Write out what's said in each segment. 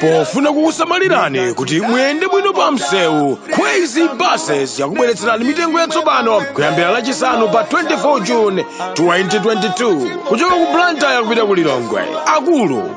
pofuna kukusamalirani kuti muyende bwino pa msewu Kwezy buses yakubweretserani mitengo yatsopano kuyambira lachisanu pa 24 june 2022 kuchoka ku blantyre kupita ku lilongwe akulu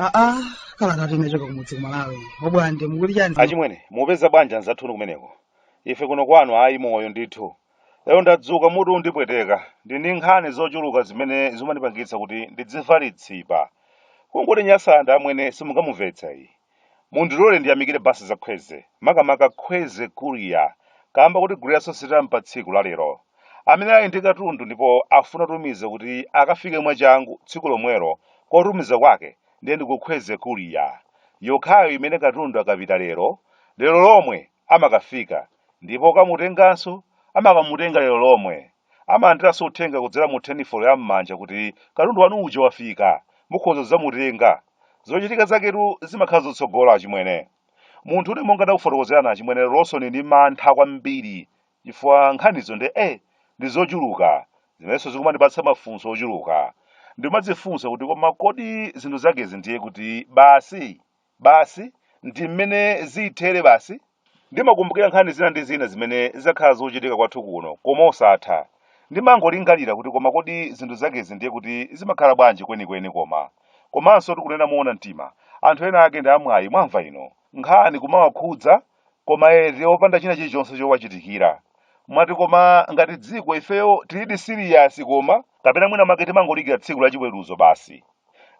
aa kalatatu inachoka kumudzi kumalawi obwande mukuti chani achimwene mupeza bwanji anzathunu kumeneko ife kuno kwanu ayi moyo ndithu Lero ndadzuka mutu undipweteka. Ndili ndi nkhani zochuluka zimene zimandipangitsa kuti ndidzimva litsipa. Kungoti Nyasanda amwene simungamumvetse ayi. Mundilole ndiyamikire basi za Kwezy, makamaka Kwezy Courier, kaamba koti gule yasositampa tsiku la lero. Amene ali ndi katundu ndipo afuna atumize kuti akafike mwachangu tsiku lomwelo kotumiza kwake ndiye ndi ku Kwezy Courier. Yokhayo imene katundu akapita lero, lero lomwe amakafika ndipo okamutenganso amakamutenga lero lomwe. Amalandiranso uthenga kudzera mu telefoni ya m'manja kuti katundu wanu uja wafika, mukhoza kudzamutenga. Zochitika zaketu zimakhala zotsogola achimwene. Munthune monga nakufotokozerani achimwene leronso ndili ndi mantha kwambiri chifukwa nkhanizo nde eh ndi zochuluka zimenenso zikumandipatsa mafunso ochuluka. Ndimadzifunsa kuti koma kodi zinthu zakezi ndiye kuti basi? Basi, ndi mmene zithere basi. Ndimakumbukira nkhani zina ndi zina zimene zakhala zikuchitika kwathu kuno, koma osatha. Ndimangolingalira kuti koma kodi zinthu zakezi ndiye kuti zimakhala bwanji kwenikweni koma? Komansotu kunena moona mtima, anthu ena ake ndi amwayi, mwamva inu. Nkhani kumawakhudza koma eti opanda china chilichonse chowachitikira mwati koma ngati dziko ifeyo tilidi siriyasi koma kapena mwina mwake timangodikira tsiku la chiweruzo basi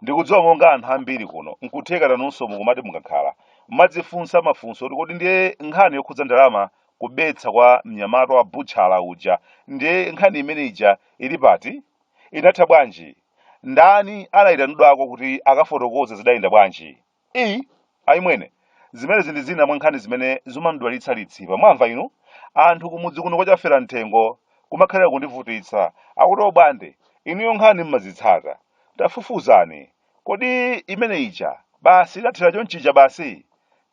ndikudziwa monga anthu ambiri kuno n'kutheka nanunso mukumati mukakhala mmadzifunsa mafunso kuti kodi ndiye nkhani yokhudza ndalama kubetsa kwa mnyamata wa butchala uja ndiye nkhani imene ija ili pati inatha bwanji ndani anayitanidwako kuti akafotokoze zidayenda bwanji I, ayi amwene. Zimenezi ndi zina mwa nkhani zimene zimandidwalitsa litsipa. Mwamva inu? Anthu kumudzi kuno kwa Chaferamuthengo kumakhalira kundivutitsa. Akuti obwande, inuyo nkhani mmazitsata. Tafufuzani. Kodi imene ija, basi idathera chonchija basi?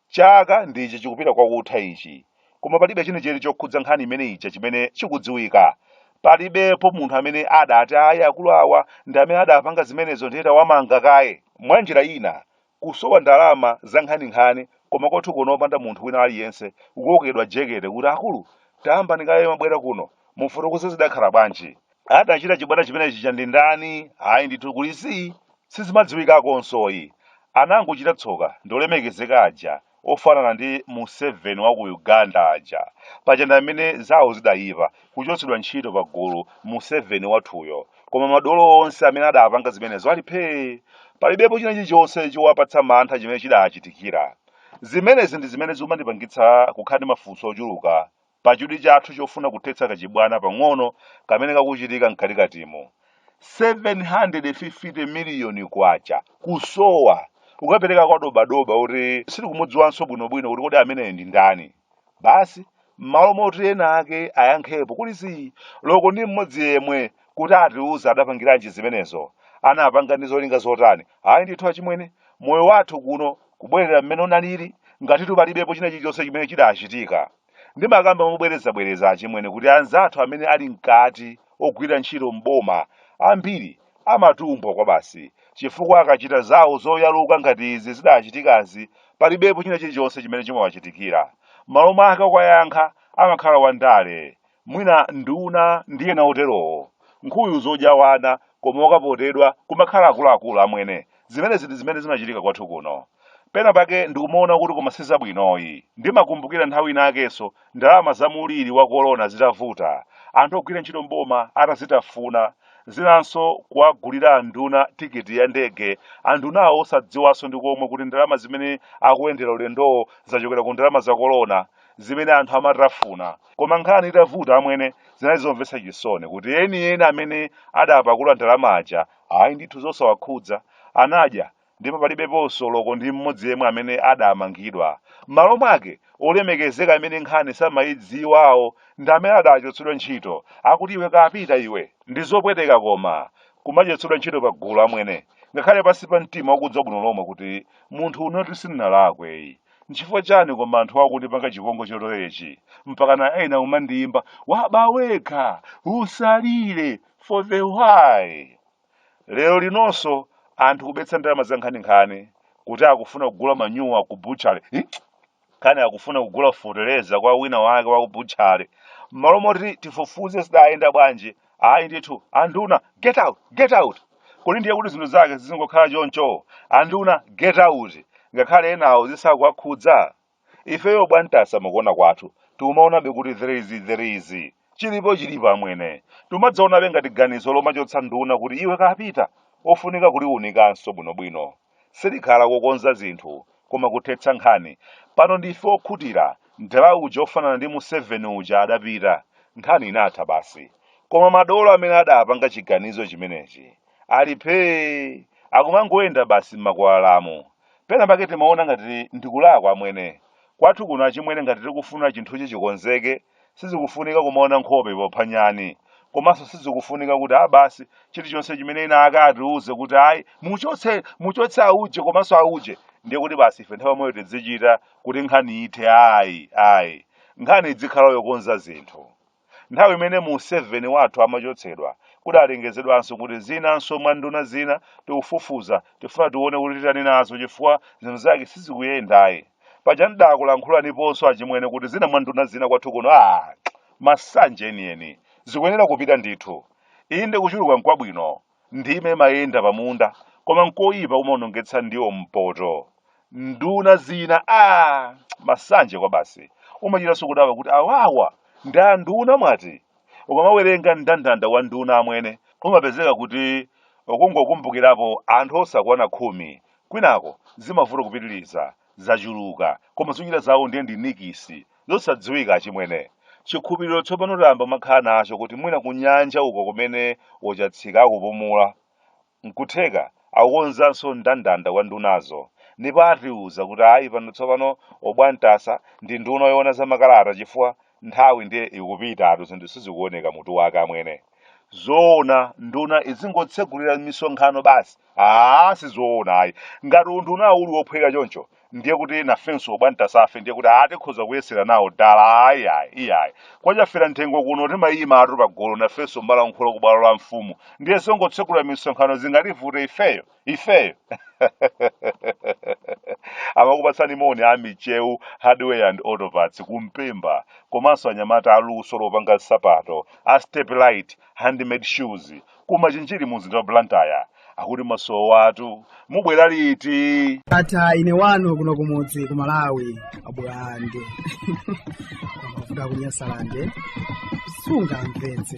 Chaka ndi ichi chikupita kwa kutha ichi. koma palibe chenicheni chokhudza nkhani imene ija chimene chikudziwika palibepo munthu amene adati ayi akulu awa ndi amene adapanga zimenezo ndiye tawamanga kaye mwa njira ina kusowa ndalama za nkhaninkhani koma kwathu kuno opanda munthu wina aliyense kukokedwa jekete kuti akulu tayambani kaye mwabwera kuno mufotokoze zidakhala bwanji adachita chibwana chimenechi cha ndi ndani ayi ndithu kuli zii sizimadziwikakonsoyi anangochita tsoka ndi olemekezeka aja ofanana ndi museveni wa ku uganda aja paja ndi amene zawo zidayipa kuchotsedwa ntchito pa gulu museveni wathuyo koma madolo onse amene adapanga zimenezo ali phee palibepo china chilichonse chowapatsa mantha chimene chidachitikira zimenezi ndi zimene zimandipangitsa kukhala ndi mafunso ochuluka Pachidwi chathu chofuna kuthetsa kachibwana pang'ono kamene kakuchitika mkatikatimu, K750 miliyoni kusowa, kukapereka kwa dobadoba woti sitikumudziwanso bwinobwino kuti kodi ameneyo ndi ndani. Basi, m'malo moti ena ake ayankhepo kuli zii, olo ko ndi mmodzi yemwe kuti atiuze adapangiranji zimenezo, anapanga ndi zolinga zotani, ayi ndithu achimwene, moyo wathu kuno kubwerera mmene unalili, ngati palibepo china chilichonse chimene chidachitika. Ndimakamba mobwerezabwereza achimwene kuti anzathu amene ali mkati ogwira ntchito m'boma ambiri amatumbwa kwabasi chifukwa akachita zawo zoyaluka ngati izi zidachitikazi palibepo china chilichonse chimene chimawachitikira. Mmalo mwake okayankha amakhala wandale mwina nduna ndi ena oterowo nkhuyu zodya wana koma okapotedwa kumakhala akuluakulu amwene zimenezi ndi zimene zimachitika kwathu kuno pena pake ndikumaona kuti koma sizabwinoyi ndimakumbukira nthawi inakenso ndalama za muliri wa korona zitavuta anthu ogwira ntchito mboma atazitafuna zinanso kuwagulira anduna tikiti ya ndege andunawo osadziwanso ndi komwe kuti ndalama zimene akuyendera ulendowo zachokera ku ndalama za korona zimene anthu amatafuna koma nkhani itavuta amwene zinali zomvetsa chisoni kuti enieni amene adapakula ndalama aja ayi ndithu zosawakhudza anadya ndipo palibeponso olo ko ndi mmodzi yemwe amene adamangidwa m'malo mwake olemekezeka amene nkhani samayidziwawo ndi amene adachotsedwa ntchito akuti iwe kapita iwe ndi zopweteka koma kumachotsedwa ntchito pa gulu amwene ngakhale pansi pa mtima ukudziwa bwino lomwe kuti munthune sindinalakweyi Nchifukwa chani koma anthu akundipanga chipongwe choterechi mpakana ena kumandiyimba waba wekha usalire for the why? Lero linonso anthu kubetsa ndalama za nkhaninkhani kuti akufuna kugula manyuwa ku butchery hi? kani akufuna kugula feteleza kwa wina wake wa ku butchery mmalo moti tifufuze zidayenda bwanji ayi ndithu anduna get out get out kodi ndiye kuti zinthu zake zizingokhala choncho anduna get out ngakhale enawo zisakuwakhudza ifeyo bwantasa mukuona kwathu timaonabe kuti there is there is chilipo chilipo amwene timadzaonabe ngati ganizo lomachotsa nduna kuti iwe kapita ofunika kuliunikanso bwinobwino Silikhala kukonza zinthu koma kuthetsa nkhani. Pano ndife okhutira, mdala uja ofanana ndi Museveni uja adapita. Nkhani inatha basi. Koma madolo amene adapanga chiganizo chimenechi ali phee! Akumangoyenda basi m'makwalalamu. Pena pake timaona ngati ndi kulawa amwene. Kwathu kuno achimwene ngati tikufuna chinthuchi chikonzeke Sizikufunika kumaona nkhope popha nyani. Komanso sizikufunika kuti a basi chilichonse chimene ena ake atiuze kuti ayi muchotse muchotse auje komanso auje ndiye kuti basi ife nthawi yomweyo tidzichita kuti nkhani ithe ayi ayi. Nkhani idzikhala yokonza zinthu. Nthawi imene Museveni wathu amachotsedwa kudalengezedwanso kuti zinanso mwa nduna zina tikufufuza tifuna tione kuti titani nazo chifukwa zinthu zake sizikuyenda ayi. paja ndidakulankhulaniponso achimwene kuti zina mwa nduna zina kwathu kuno a masanje enieni zikuyenera kupita ndithu inde kuchuluka nkwabwino ndime imayenda pamunda koma nkoyipa umaonongetsa ndiwo mpoto nduna zina a masanje kwabasi umachitanso kudabwa kuti awawa ndi anduna mwati ukamawerenga mndandanda wa nduna amwene umapezeka kuti ukungokumbukirapo anthu osakwana khumi kwinako zimavuta kupitiriza zachuluka koma zochita zawo ndiye ndi nikisi zosadziwika achimwene chikhulupiriro tsopano tayamba kumakhala nacho kuti mwina kunyanja uko kumene wochatsika akupumula nkutheka akukonzanso ndandanda wa ndunazo ndipo atiuza kuti ayi pano tsopano o Bwantasa ndi nduna yoona za makalata chifukwa nthawi ndiye ikupitatu zinthu sizikuoneka mutu wake amwene zoona nduna izingotsegulira misonkhano basi aa sizoona ayi ngati unduna uli wophweka choncho ndiye kuti nafenso Bwantasa fe ndiye kuti tikhoza kuyesera nawo dala ayi ayi iyayi kwa Chaferanthengo kuno timayimatu pagolo nafenso n'kumalankhula ku bwalo la mfumu ndiye zongotsegulira misonkhano zingativute ifeyo ifeyo akukupatsani moni a michiru hardware and autoparts kumpemba komanso anyamata aluso lopanga nsapato a step light handmade shoes kumachinjiri mu mzinda wa blantyre akuti mwasowatu mubwera liti ndatha ine wanu kuno kumudzi ku malawi abulande kuvuga kunyasalande sungamvetse